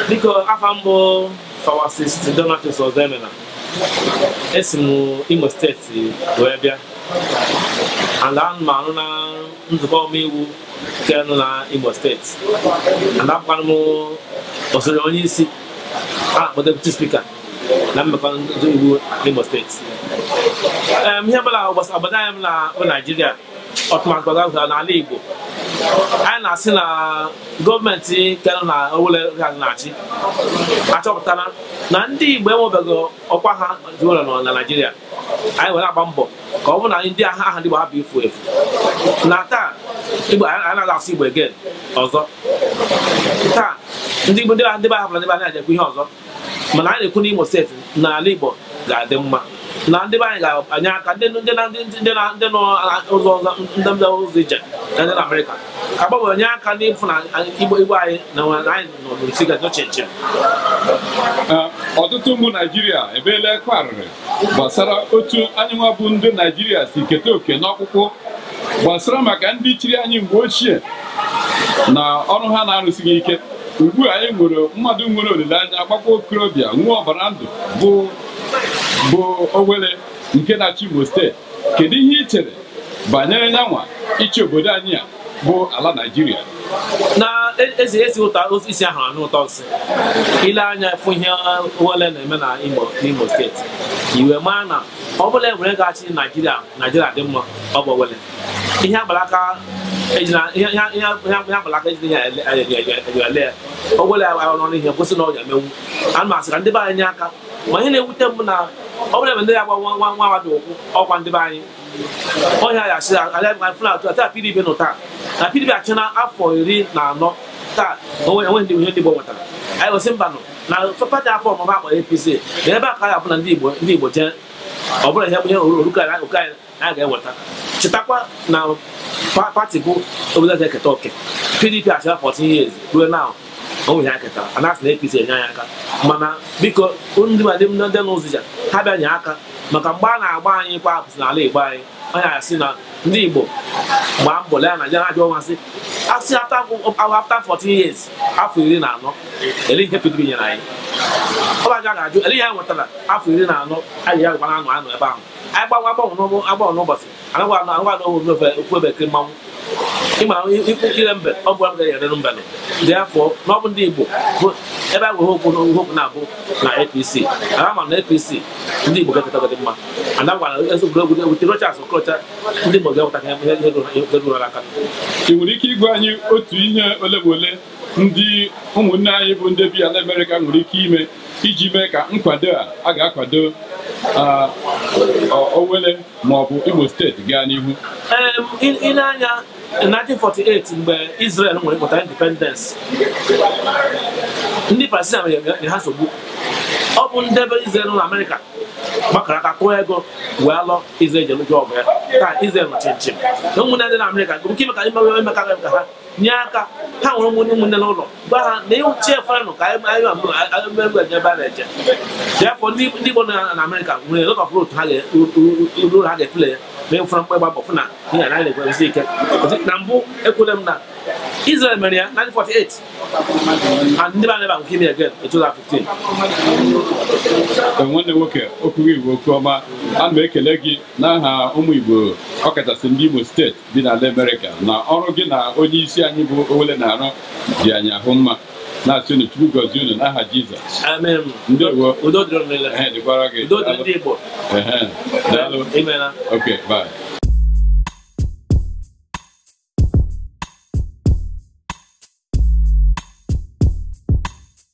biko afa m bụ pharmacist Donatus Ọzọemena esi m imo steeti wee bịa and ana m arụ na nzukọ omeiwu nke nọ na imo steeti and abụkwana m osote onye isi a na-akpọ deputy speaker na mmekọ ndị iwu n'Imo steeti Em, ihe ọbụla gbasara obodo anyị bụ na bụ Naijiria tụmadị gbasara n'ala Igbo anyị na-asị na gọọmenti nke nọ na Owelle ha na-achị achọpụtara na ndị Igbo enwebeghị ọkwa ha dị ụlọ nọ na Naijiria anyị were agba mbọ ka ọ bụrụ na ndị aha aha ndị Igbo ha bụ efu efu na taa Igbo anyị anaghị asụ Igbo again ọzọ taa ndị Igbo ndị be ha hapụrụ ndị be anyị na-ejekwa ihe ọzọ mana anyị na-ekwu n'Imo steeti na ala Igbo ga-adị mma na ndị be anyị ga-anye aka ndị ndị na ndị ndị na ndị nọ ụzọ ọzọ ndị ndị ụzọ ije na ndị na Amerịka ga-agba mbọ nye aka n'ịfụ na Igbo Igbo anyị na anyị nọ n'otu ga-eche nche ọtụtụ ụmụ Naijiria ebeela akwa arịrị gbasara otu anyị nwa bụ ndị Naijiria si keta oke n'ọkpụkpụ gbasara maka ndị chịrị anyị mgbe ochie na ọrụ ha na-arụsighị ike ugbu a anyị nwere mmadụ nwere olileanya gbakwa okorobịa nwere ọbara ndụ bụ bụ Owelle nke na-achị Imo steeti kedu ihe ị chere banyere nyanwa ịchị obodo anyị a bụ ala Naịjirịa na-esi n'isi ahụrụ anụ ụtọ nsị i lee anya fụ ihe Owelle na-eme na Imo steeti i wee maa na ọ bụrụ na Owelle ga-achị Naịjirịa Naịjirịa dị mma ọ bụ wele ihe a gba l'aka a gba l'aka ejighị enyo ele ya Owelle ya ọrụ ihe kwụsị na ọ ga-emenwu a na-asị ka ndị be anyị nye aka ma ihe na-ewute m na ọ bụla ebe ndị ya gba nwa nwa nwa dị ụkwụ ọkwa ndị be anyị ọhịa ya sị atụ ata pdp nụ taa na pdp achịla afọ iri na anọ taa o nweghị ihe ndị Igbo nwetara anyị gosi mba nọ na pati afọ ọmụma a kpọrọ APC na ebe a ka ya bụ na ndị Igbo ndị Igbo jee ọ bụla ihe ihe oruka anyị a ga-eweta chetakwa na pati bụ obodo ga-eketa oke pdp achịla 14 years ruo na onwe ya ketara a na-asị na APC enye anyị aka mana biko ndị ma ndị ndị n'ụzọ ije ha bịa nye aka maka mgbe a na-agba anyị kwa apụsị n'ala Igbo anyị onye asị na ndị Igbo gbaa mbọ lee na Naịjirịa na-ajụ ọnwa sị asị after 14 years afọ iri na anọ olee ihe PDP nyere anyị ọ ga-ajụ olee ihe ha nwetara afọ iri na anọ anyị ya gwara anụ anụ ebe ahụ anyị gbanwe agbanwe n'ụgbọ agbanwe n'ụbọchị a naghị anọ a naghị anọ ofu ofu ofu ebe ekiri mmanwụ ịma ikwu ikire mbe ọ bụ abụghị erere mbe nọ dị afọ na ọ bụ ndị igbo bụ ebe a gwụghị okwu na ihe okwu na-abụ na apc na ama na apc ndị igbo ga-ekọtagọdị mma anagwa na ezi egwuregwu na ewute rochas okorocha ndị igbo ga-eweta ihe ihe ihe ruru aka ị nwere ike ịgwa anyị otu ihe ole ma ole ndị ụmụnne anyị bụ ndị bi ala Amerịka nwere ike ime iji mee ka nkwado a a ga-akwado Owele ma ọ bụ Imo steeti gaa n'ihu i lee anya 1948 mgbe Israel nwere independence ndị Palestine nyere ha nsogbu ọ bụ ndị be Israel na Amerịka gbakọrọ aka tụọ ego wee lụọ Israel jee lụọ ọgụ ya taa Israel nọ chịm chịm na ụmụnne ndị na Amerịka nwere ike ime ka ime ka ha nye aka ha nwere ụmụnne ụmụnne n'ụlọ gwa ha na ịwụ chefuanụ ka anyị agụmegwu eje ebe a na-eje therefore ndị Igbo nọ na Amerịka nwere lot of role ha ga-eru ha ga-eplay ya ma ị fụrụ mkpa ịgba mbọ fụ na ihe a naghị ekweresi ike na mbụ ekwule m na Israel mere ya 1948 and ndị be anyị ebe a nwere ike ime again 2015 nwanne nwoke okwu gị bụ okwu ọma ana m ekele gị n'aha ụmụ Igbo ọkachasị ndị Imo steeti dị n'ala Amerịka na ọrụ gị na onye isi anyị bụ Owele na-arụ dị anyị ahụ mma na-asị unu Chukwu gọzie unu n'aha Jizọs Amen. Ndeewo. Udo dịrị unu niile. Ehe, dịkwara gị Udo dịrị ndị Igbo. Ehe, daalụ Imela. okay bye